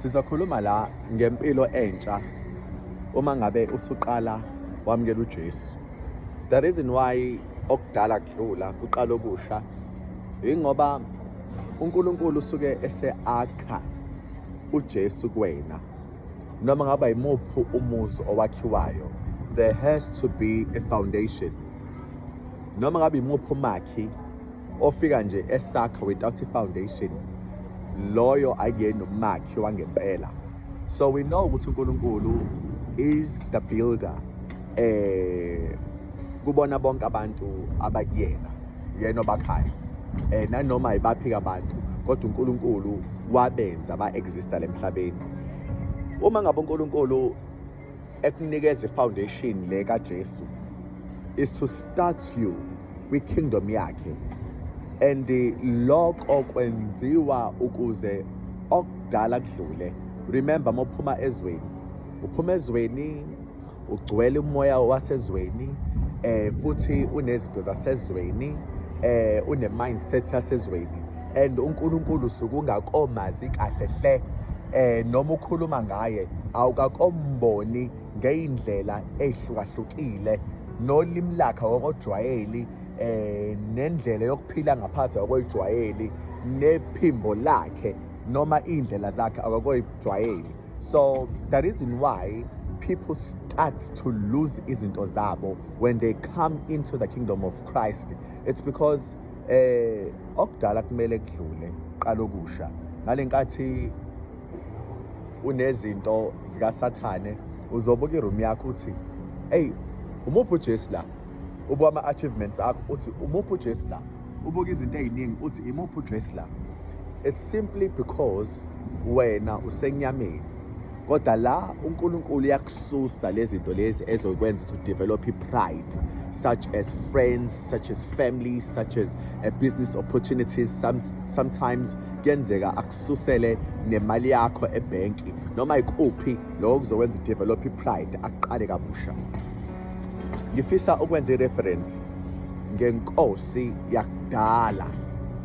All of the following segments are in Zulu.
Sizokhuluma la ngempilo entsha uma ngabe usuqala wamukela uJesu. The reason why okudala kudlula kuqala okusha ingoba uNkulunkulu usuke eseakha uJesu kuwena. Noma ngaba yimuphi umuzi owakhiwayo, there has to be a foundation. Noma ngabe yimuphi umakhi ofika nje esakha without i-foundation loyo akuyena umakhi wangempela so we know ukuthi uNkulunkulu is the builder eh kubona bonke abantu abakuyena yena obakhayo eh nanoma ibaphi abantu kodwa uNkulunkulu wabenza ba exista lemhlabeni uma ngabe uNkulunkulu ekunikeza ifoundation le kaJesu is to start you kwi kingdom yakhe and lokho kwenziwa ukuze okudala kudlule remember mophuma ezweni uphuma ezweni ugcwele umoya wasezweni eh futhi unezinto zasezweni eh une mindset yasezweni and uNkulunkulu sukungakomazi kahle hle eh noma ukhuluma ngaye awukakomboni ngeindlela ezihlukahlukile nolimi lakhe wokojwayeli eh nendlela yokuphila ngaphansi kwejwayeli nephimbo lakhe noma indlela zakhe akakoyijwayeli so the reason why people start to lose izinto zabo when they come into the kingdom of Christ it's because eh okudala kumele kudlule qala okusha ngalenkathi unezinto zikasathane uzobuka iroom yakho uthi hey umuphi uJesu la ubuka ama achievements akho uthi umuphi uJesu la ubuka izinto eziningi uthi imuphi uJesu la it's simply because wena usenyameni kodwa la uNkulunkulu uyakususa lezinto lezi ezokwenza to develop pride such as friends such as family such as a business opportunities Some, sometimes kuyenzeka akususele nemali yakho ebhenki noma ikuphi lokho kuzokwenza develop pride aqale kabusha ngifisa ukwenza ireference ngenkosi yakudala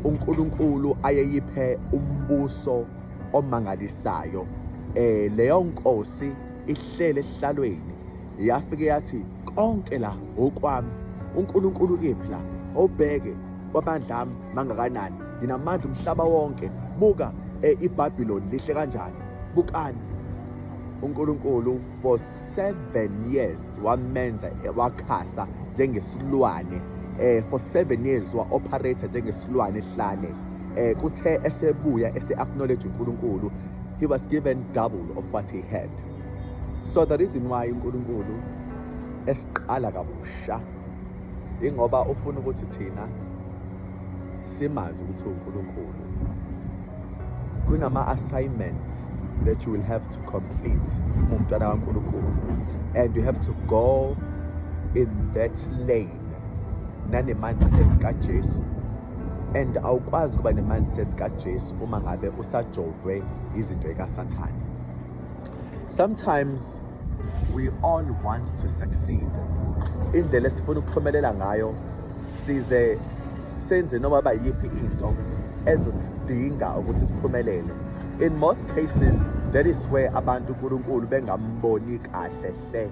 uNkulunkulu ayeyiphe umbuso omangalisayo eh leyo nkosi ihlele esihlalweni yafike yathi konke la okwami uNkulunkulu kephi la obheke kwabandla ami mangakanani nginamandla umhlaba wonke buka eh, iBabylon lihle kanjani bukani uNkulunkulu seven years wamenza wakhasa njengesilwane eh for seven years wa-operator njengesilwane ehlane eh kuthe esebuya ese-acknowledge unkulunkulu he was given double of what he had so the reason why unkulunkulu esiqala kabusha ingoba ufuna ukuthi thina simazi ukuthi unkulunkulu kunama-assignments that you will have to complete umntwana kankulunkulu and you have to go in that lane nane-mindset kajesu and awukwazi ukuba ne-mindset kajesu uma ngabe usajovwe izinto ekasathane Sometimes we all want to succeed. Indlela esifuna ukuphumelela ngayo size senze noma bayiphi into ezosidinga ukuthi siphumelele. In most cases that is where abantu uNkulunkulu bengamboni kahle hle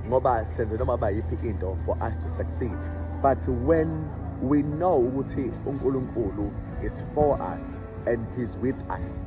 ngoba senze noma bayiphi into for us to succeed. But when we know ukuthi uNkulunkulu is for us and he's with us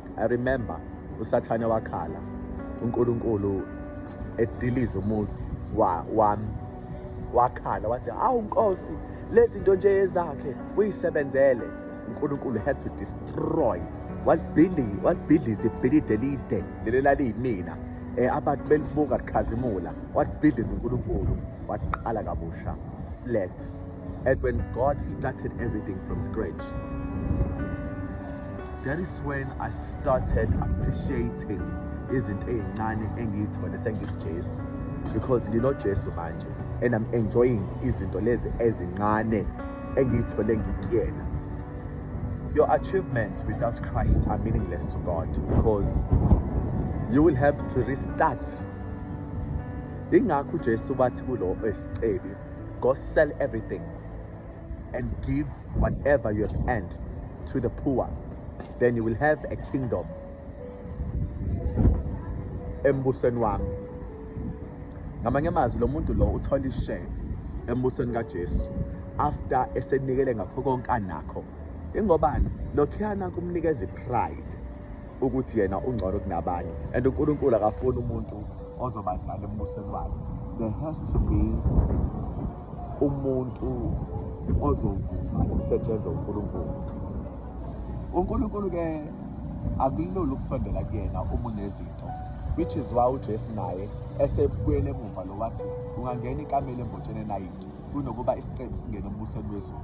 I remember usathane wakhala uNkulunkulu ediliza umuzi wami wakhala wathi hawu nkosi lezinto nje ezakhe uyisebenzele uNkulunkulu had to destroy walibhili walibhidliza ibhilide elide leli laliyimina eh abantu belibuka likhazimula walibhidliza uNkulunkulu waqala kabusha flat And when God started everything from scratch, that is when I started appreciating izinto ey'ncane engiyithole sengijesu because nginojesu manje and i'm enjoying izinto lezi ezincane engiyithole ngikuyena your achievements without christ are meaningless to god because you will have to restart ingakho ujesu bathi kulo esicebi go sell everything and give whatever you have earned to the poor then you will have a kingdom embusweni wami ngamanye amazwi lo muntu lo uthola ishare embusweni kaJesu after esenikele ngakho konke anakho ingobani lokhuyana kumnikeza ipride ukuthi yena ungcono kunabanye and uNkulunkulu akafuni umuntu ozoba njalo embusweni wakhe there has to be umuntu ozovuma ukusetshenzwa uNkulunkulu uNkulunkulu ke akulula ukusondela kuyena uma unezinto which is why uJesu naye esebuyele emuva lo wathi ungangena ikamela embotsheni enayiti kunokuba isicebi singene embusweni wezulu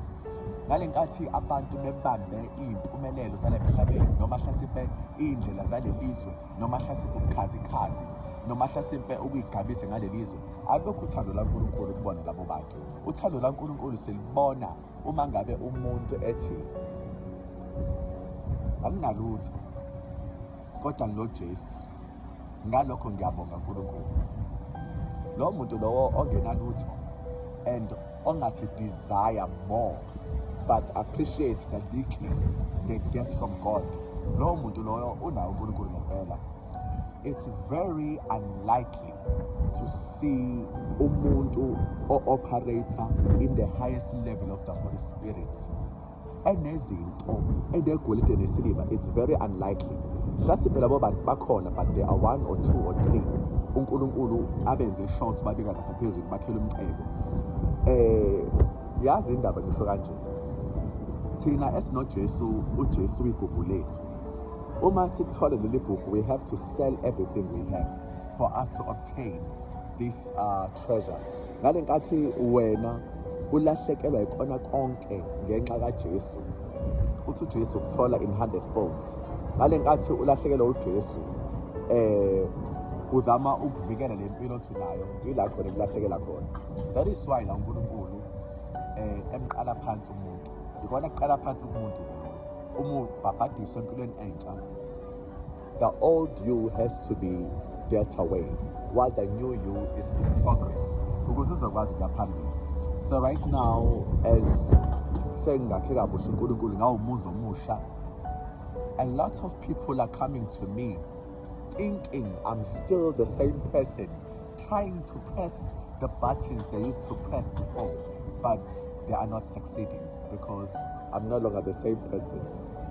ngale nkathi abantu bebambe iy'mpumelelo zale mhlabeni noma hlasimpe iy'ndlela zale lizwe noma hlasimpe ubukhazikhazi noma hlasimpe ukuyigabise ngale lizwe alokhu uthando lankulunkulu kubona labo bantu uthando lankulunkulu silibona uma ngabe umuntu ethi anginalutho kodwa nginojesu ngalokho ngiyabonga uNkulunkulu lowo muntu lowo ongenalutho and ongathi desire more but appreciate the little they get from God lowo muntu loyo unawo uNkulunkulu ngempela it's very unlikely to see umuntu o-operator in the highest level of the Holy Spirit enezinto enegolide nesiliva it's very unlikely hlasipe labo bantu bakhona but there are one or two or three unkulunkulu abenze short babika lapha phezulu bakhele umcebo eh yazi indaba ngisho kanje thina esinojesu ujesu uyigugu lethu uma sithole leli gugu we have to sell everything we have for us to obtain this uh, treasure ngale nkathi wena ulahlekelwa ikona konke ngenxa kaJesu uthi uJesu ukuthola in 100 folds ngale nkathi ulahlekelwa uJesu eh uzama ukuvikela le mpilo othi nayo yila khona kulahlekela khona that is why la uNkulunkulu eh emqala phansi umuntu ikona kuqala phansi umuntu umuntu babhadiswe empilweni entsha The old you has to be dealt away while the new you is in progress ukuze uzokwazi ukuya phambili so right now as sengingakhe kabusha unkulunkulu ngawumuzi omusha a lot of people are coming to me thinking i'm still the same person trying to press the buttons they used to press before, but they are not succeeding because I'm no longer the same person.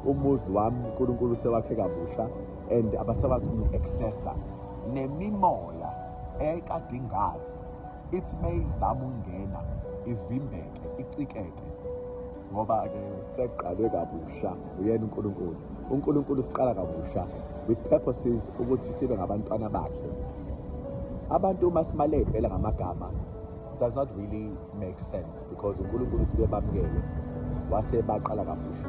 Umuzi wami uNkulunkulu sewakhe kabusha and abasakwazi ukungi-accessa nemimoya ekade ingazi ithi meyizama ukungena ivimbeke icikeke ngoba-ke seqalwe kabusha uyena unkulunkulu unkulunkulu siqala kabusha with purposes ukuthi sibe ngabantwana bakhe abantu uma simale impela ngamagama does not really make sense because unkulunkulu sike bamukele wase baqala kabusha